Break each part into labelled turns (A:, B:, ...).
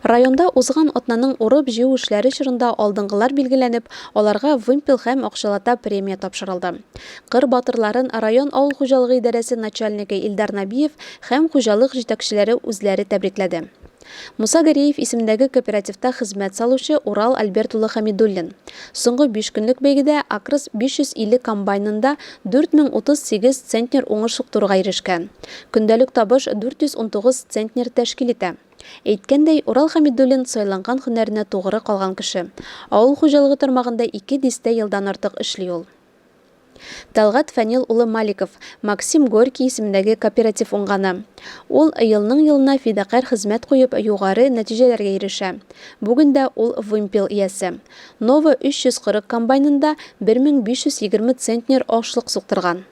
A: Районда узган атнаның урып-җыю эшләре чорында алдынгылар билгеләнеп, аларга вымпел һәм акчалата премия тапшырылды. Кыр батырларын район авыл хуҗалыгы идарәсе начальнигы Илдар Набиев һәм хуҗалык җитәкчеләре үзләре тәбрикләде. Муса Гәрәев исемендәге кооперативта хезмәт салучы Урал Альберт улы Хәмидуллин соңгы биш көнлек бәйгедә Акрс 550 комбайнында 4038 центнер уңыш суктыруга ирешкән. Көндәлек табыш 419 центнер тәшкил итә. Әйткәндәй, Урал Хәмидуллин сайланган һөнәренә тугры калган кеше. Авыл хуҗалыгы тармагында ике дистә елдан артык эшли ул. Тәлгать Фәнил улы Маликов, Максим Горький исемендәге кооператив уңганы. Ул, елның-елына фидакарь хезмәт куеп, югары нәтиҗәләргә ирешә. Бүген дә ул вымпел иясе. Нова 340 комбайнында 1520 центнер ашлык суктырган.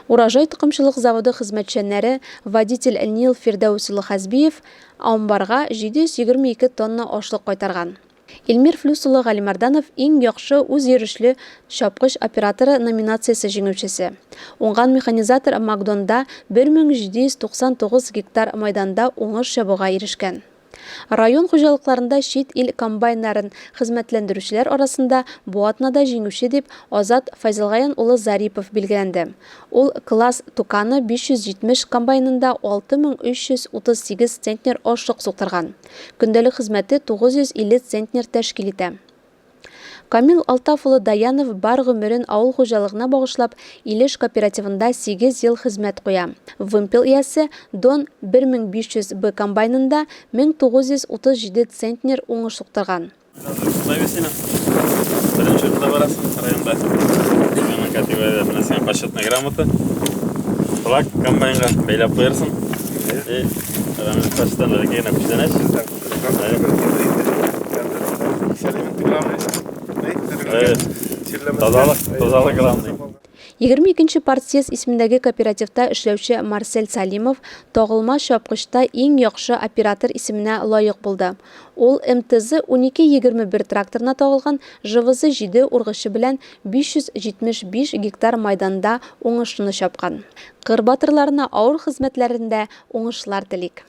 A: Урожай токымчылык заводы хезмәтчәннәре водитель Нил Фирдәүс улы Хәзбиев амбарга 722 тонна ашлык кайтарган. Илмир Флүс улы Галимарданов иң яхшы үзйөрешле чапкыч операторы номинациясе җиңүчесе. Уңган механизатор Макдонда 1799 гектар майданда уңыш чабуга ирешкән. Район хуҗалыкларында чит ил комбайннарын хезмәтләндерүчеләр арасында бу атнада җиңүче дип Азат Файзелгаян улы Зарипов билгеләнде. Ул Класс Туканы 570 комбайнында 6338 центнер ашлык суктырган. Көндәлек хезмәте 950 центнер тәшкил итә. Камил Алтаф улы Даянов бар гомерен авыл хуҗалыгына багышлап, Илеш кооперативында сигез ел хезмәт куя. Вымпел иясе Дон 1500 Б комбайнында 1937 центнер уңыш суктырган. Шулай бит синең. Беренче урында барасың районда. Менә категория дә менә сиңа почетная грамота. Флаг комбайнга бәйләп куярсың.
B: И, рәмез почтан да генә күчтәнәч. Егерме икенче
A: партсъезд исемендәге кооперативта эшләүче Марсель Салимов тагылма чапкычта иң яхшы оператор исеменә лаек булды. Ул МТЗ-12-21 тракторына тагылган ЖВЗ-7 ургычы белән 575 гектар майданда уңышны чапкан. Кыр батырларына авыр хезмәтләрендә уңышлар телик!